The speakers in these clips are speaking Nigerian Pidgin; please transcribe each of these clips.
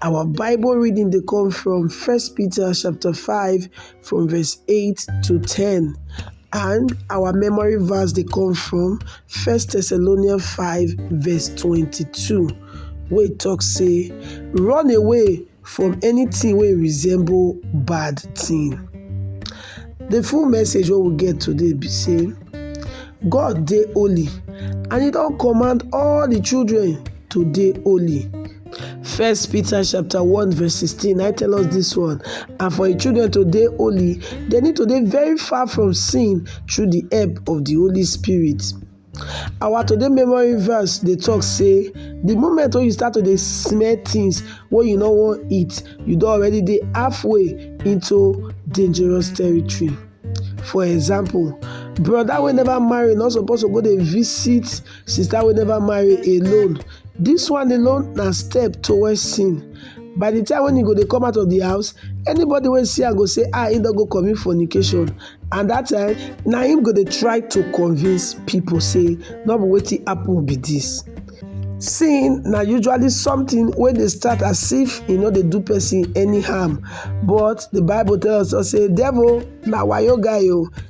Our Bible reading they come from 1 Peter chapter 5 from verse 8 to 10. And our memory verse they come from 1 Thessalonians 5 verse 22. We talk say, run away from anything we resemble bad thing. The full message we will get today be say, God dey holy and he don't command all the children to dey holy. First Peter chapter 1 verse 16 I tell us this one and for the children to dey holy they need to dey very far from sin through the help of the Holy Spirit. Our today memory verse dey talk say the moment when you start to dey smell things wey you no wan eat you don already dey halfway into dangerous territory. For example brother wey never marry no suppose to go dey visit Sister will never marry alone. This one alone na step towards sin. By the time when you go dey come out of the house, anybody wey see am go say ah he don go commit fornication and that time na him go dey try to convince people say no be wetin happen be this. Sin na usually something wey dey start as if e no dey do person any harm but the bible tell us say devil na wayo guy o,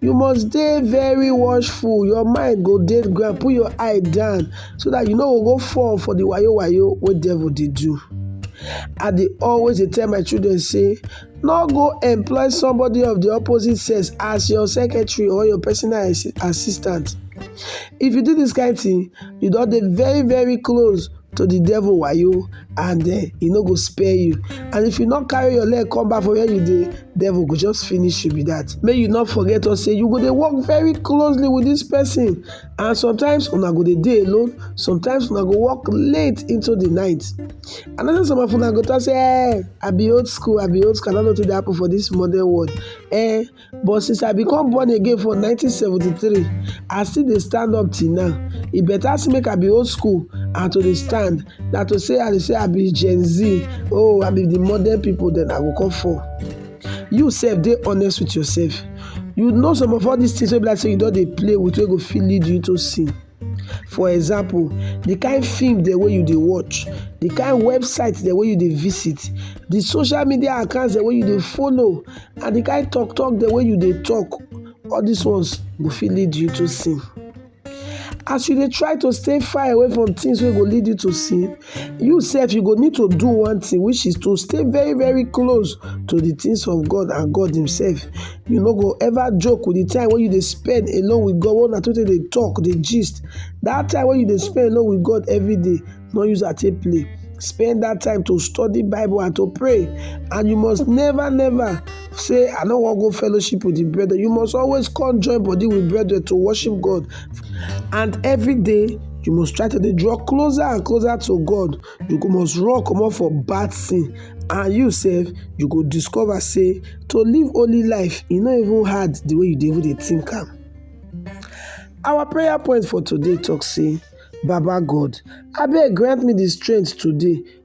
You must dey very watchful, your mind go dey ground, put your eye down so that you no go go fall for the wayo wayo wey devil dey do. I dey always dey tell my children say, no go employ somebody of the opposite sex as your secretary or your personal assi- assistant. If you do this kind thing, you don dey very very close to the devil wayo and eh, he no go spare you and if you not carry your leg come back for where you the devil go just finish you with that may you not forget or say you go dey work very closely with this person and sometimes una go the day alone sometimes una go work late into the night another some of una go talk say eh i be old school i be old school i don't know what dey happen for this modern world eh But since I become born again for 1973, I still dey stand up till now. E better say make I be old school and to dey stand than to say I dey say I be Gen Z, oh I be the modern people, then I go come fall. You sef dey honest with yourself. You know some of all these things wey be like say you don dey play with wey go fit lead you into sin. For example, the kind film dem wey you dey watch, the kind website dem wey you dey visit, the social media accounts dem wey you dey follow and the kind talk talk dem wey you dey talk, all these ones go fit lead you to sin. As you dey try to stay far away from things wey go lead you to sin, You sef you go need to do one thing which is to stay very very close to the things of God and God himself. You no go ever joke with the time when you dey spend alone with God when una two take dey talk dey gist. That time when you dey spend alone with God every day no use am take play. Spend that time to study Bible and to pray and you must never never say i no wan go fellowship with the brethren you must always come join body with brethren to worship god and every day you must try to dey draw closer and closer to god you go must run comot for bad thing and you sef you go discover say to live holy life e no even hard the way you dey even dey think am our prayer point for today talk say baba god abeg grant me the strength today